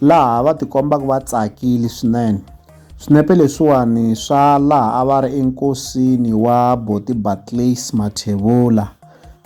laha va tikombaka va tsakile swinene. Swinepe leswiwani swa laha a va ri enkosini wa Boti Barclays Mathebula,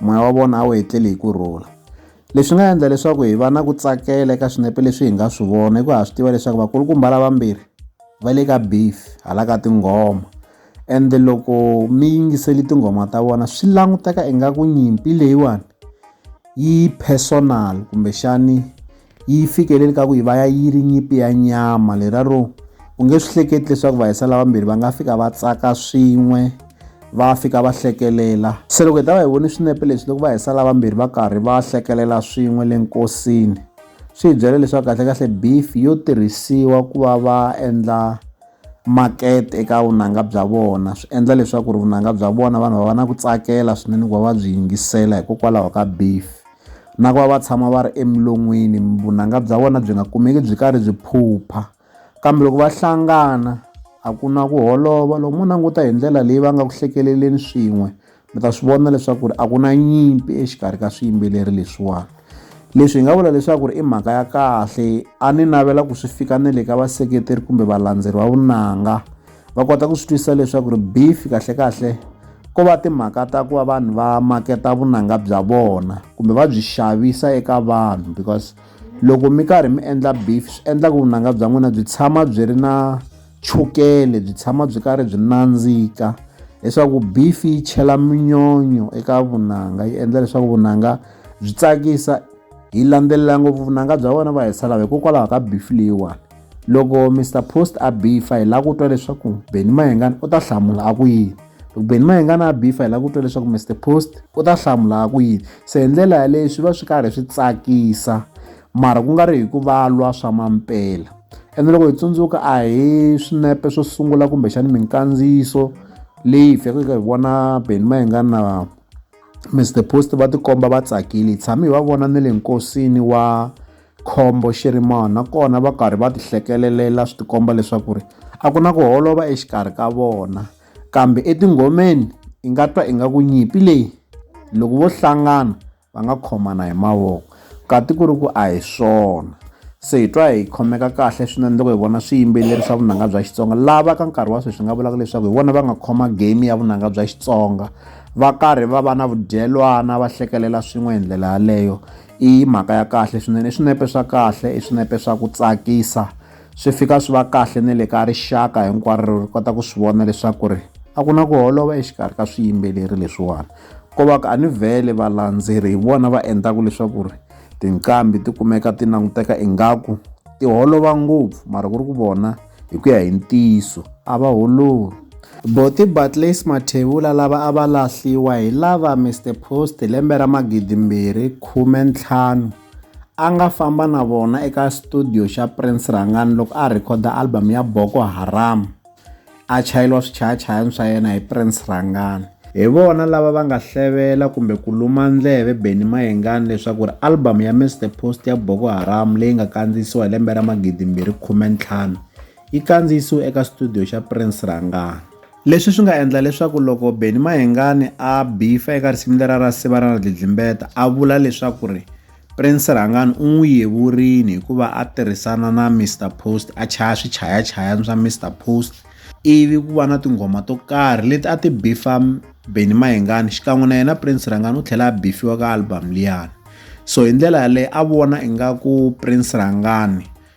moya wa vona a wu etlele hi ku rhula. Leswi nga endla leswaku hi va na ku tsakela eka swinepe leswi hi nga swi vona hikuva ha swi tiva leswaku vakulukumba lavambirhi va le ka beef hala ka tinghoma ende loko mi yingiseli tinghoma ta vona swi languteka ingaku nyimpi leyiwani yi personal kumbexani yi fikeleli ka ku yi va ya yi ri nyimpi ya nyama leraro u nge swi hleketi leswaku vahisa lavambirhi va nga fika va tsaka swin'we va fika va hlekelela se loko hi ta va hi vone swinepe leswi loko vahisa lavambirhi va karhi va hlekelela swin'we le nkosini swi hi byela leswaku kahlekahle beef yo tirhisiwa ku va va endla makete eka vunanga bya vona swi endla leswaku ri vunanga bya vona vanhu va va na ku tsakela swinene ku va va byi yingisela hikokwalaho ka beef na ku va va tshama va ri emilon'wini vunanga bya vona byi nga kumeki byi karhi byi phupha kambe loko va hlangana a ku na ku holova loko mo languta hi ndlela leyi va nga ku hlekeleleni swin'we mi ta swi vona leswaku ri a ku na nyimpi exikarhi ka swiyimbeleri leswiwani leswi hi nga vula leswaku ri i mhaka ya kahle a ni navela ku swi fika na le ka vaseketeri kumbe valandzeri va vunanga va kota ku swi twisisa leswaku ri beef kahlekahle ko va timhaka ta ku va vanhu va maketa vunanga bya vona kumbe va byi xavisa eka vanhu because loko mi karhi mi endla beef swi endla ku vunanga bya n'wina byi tshama byi ri na chukele byi tshama byi karhi byi nandzika leswaku beef yi chela minyonyo eka vunanga yi endla leswaku vunanga byi tsakisa hi landzelela ngopfu vunanga bya vona va hi salava hikokwalaho ka beef leyiwani Loko Mister Post a bifa hi lava ku twa leswaku Benny Mayengani u ta hlamula a ku yini. Loko Benny Mayengani a bifa hi lava ku twa leswaku Mister Post u ta hlamula a ku yini. Se hi ndlela yaleyo swi va swi karhi swi tsakisa mara ku nga ri hi ku va lwa swa mampela. Ene loko hi tsundzuka a hi swinepe swo sungula kumbexana minkandziyiso leyi hi fikaka hi vona Benny Mayengani na Mister Post va tikomba va tsakile hi tshame hi va vona na le nkosini wa Khombo xi ri mani nakona va karhi va tihlekelelela swi tikomba leswaku ri a ku na ku holova exikarhi ka vona kambe etinghomeni i nga twa ingaku nyimpi leyi loko vo hlangana va nga khomana hi mavoko kati ku ri ku a hi swona se hi twa hi khomeka kahle swinene loko hi vona swiyimbeleri swa vunanga bya xitsonga lava ka nkarhi wa sweswi nga vulaka leswaku hi vona va nga khoma game ya vunanga bya xitsonga va karhi va va na vudyelwana va hlekelela swin'we hi ndlela yaleyo I mhaka ya kahle swinene i swinepe swa kahle i swinepe swa ku tsakisa swi fika swi va kahle na le ka rixaka hinkwaro ri kota ku swi vona leswaku ri a ku na ku holova exikarhi ka swiyimbeleri leswiwani ko va ka a ni vhele valandzeri hi vona va endlaka leswaku ri tinqambi ti kumeka ti languteka ingaku ti holova ngopfu mara ku ri ku vona Hi ku ya hi ntiyiso, a va holori. Bothy Bartlays Mathebula lava a va lahliwa hi lava Mister Post lembe ra 2015 a nga famba na vona eka studio xa Prince Rhangani loko a rhekhoda album ya Boko Haram, a chayeriwa swichayachayani swa yena hi Prince Rhangani. Hi vona lava va nga hlevela kumbe ku luma ndleve Benny Mayengani leswaku ri album ya Miss the Post ya Boko Haram leyi nga kandziyisiwa hi lembe ra 2015 yi kandziyisiwe eka studio xa Prince Rangani. Leswi swi nga endla leswaku loko Benny Mayengani a bifa eka risimu lera ra Siva Ra Na Dlidlimbeta a vula leswaku ri. Prince Rhangani u n'wi yevurile hikuva a tirhisana na Mr Post a chaya swichayachayani swa Mr Post ivi ku va na tinghoma to karhi leti a ti bifa Benny Mayengani xikan'we na yena Prince Rhangani u tlhela a bifiwa ka album liyani so hi ndlela yaleyo a vona ingaku Prince Rhangani